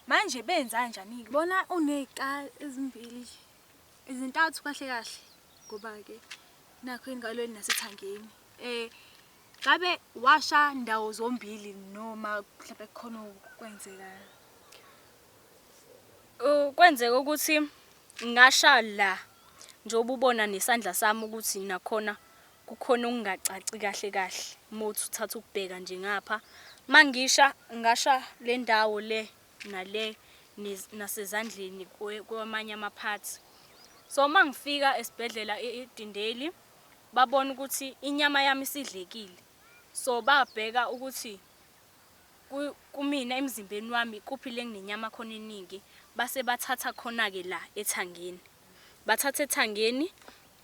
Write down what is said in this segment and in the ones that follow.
Manje benzanjani-ke? Bona uney'qa ezimbili, ezintathu kahle kahle ngoba-ke nakhu engalweni nasethangeni. Um ngabe washa ndawo zombili noma mhlawumpe kukhona okwenzekayo? Uh, Kwenzeka ukuthi ngasha la njengoba ubona nesandla sami ukuthi nakhona Kukhona okungacaci kahle kahle mothi uthatha ukubheka nje ngapha. Mangisha ngasha lendawo le nale nasezandleni kwamanye ama parts. So mangifika esibhedlela eDindeli babona ukuthi inyama yami isidlekile. So babheka ukuthi kumina emzimbeni wami kuphi lenginenyama khona eningi base bathatha khona ke la ethangeni. Bathatha ethangeni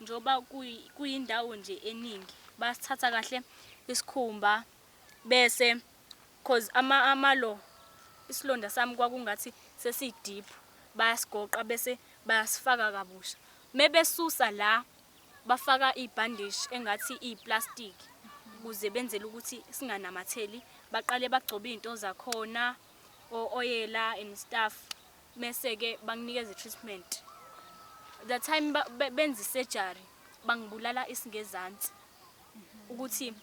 njengoba kuyindawo nje eningi basithatha kahle isikhumba bese cause ama amalo isilonda sami kwakungathi sesidiphu bayasigoqa bese bayasifaka kabusha mebesusa la bafaka ibhandishi engathi iplastic ukuze benzele ukuthi singanamatheli baqale bagcobe izinto zakhona ooyela and stuff mese ke banginikeza treatment the time benza surgery bangibulala isingezansi ukuthi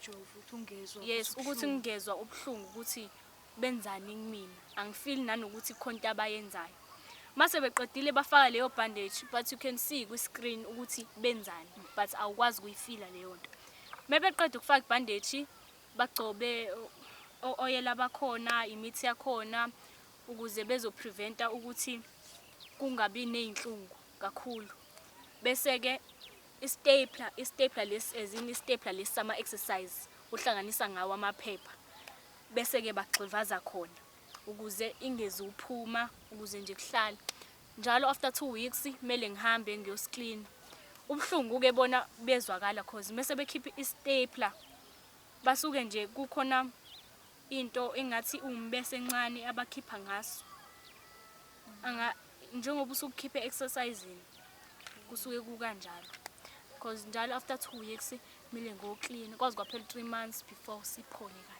yes ukuthi ngingezwa ubuhlungu ukuthi benzani kumina angifeel nanokuthi khonto abayenzayo mase beqedile bafaka leyo bandage but you can see kwi screen ukuthi benzani but awukwazi kuyifila leyo nto mebeqeda ukufaka ibandage bagcobe oyela bakhona imithi yakhona ukuze bezopreventa ukuthi kungabi ney'nhlungu kakhulu. Bese-ke i-stapler, i-stapler lesi as in i-stapler lesi sama-exercise uhlanganisa ngawo amaphepha. Bese-ke bagxivaza khona ukuze ingezi uphuma ukuze nje kuhlale. Njalo after two weeks kumele ngihambe ngiyosiklina. Ubuhlungu-ke bona buyezwakala cause mese bekhipha i-stapler basuke nje kukhona into engathi iwumbese encane abakhipha ngaso anga njengoba usukukhiphe exercising kusuke kukanjalo because njalo after 2 weeks mile ngo clean kwazi kwaphela 3 months before siphole kahle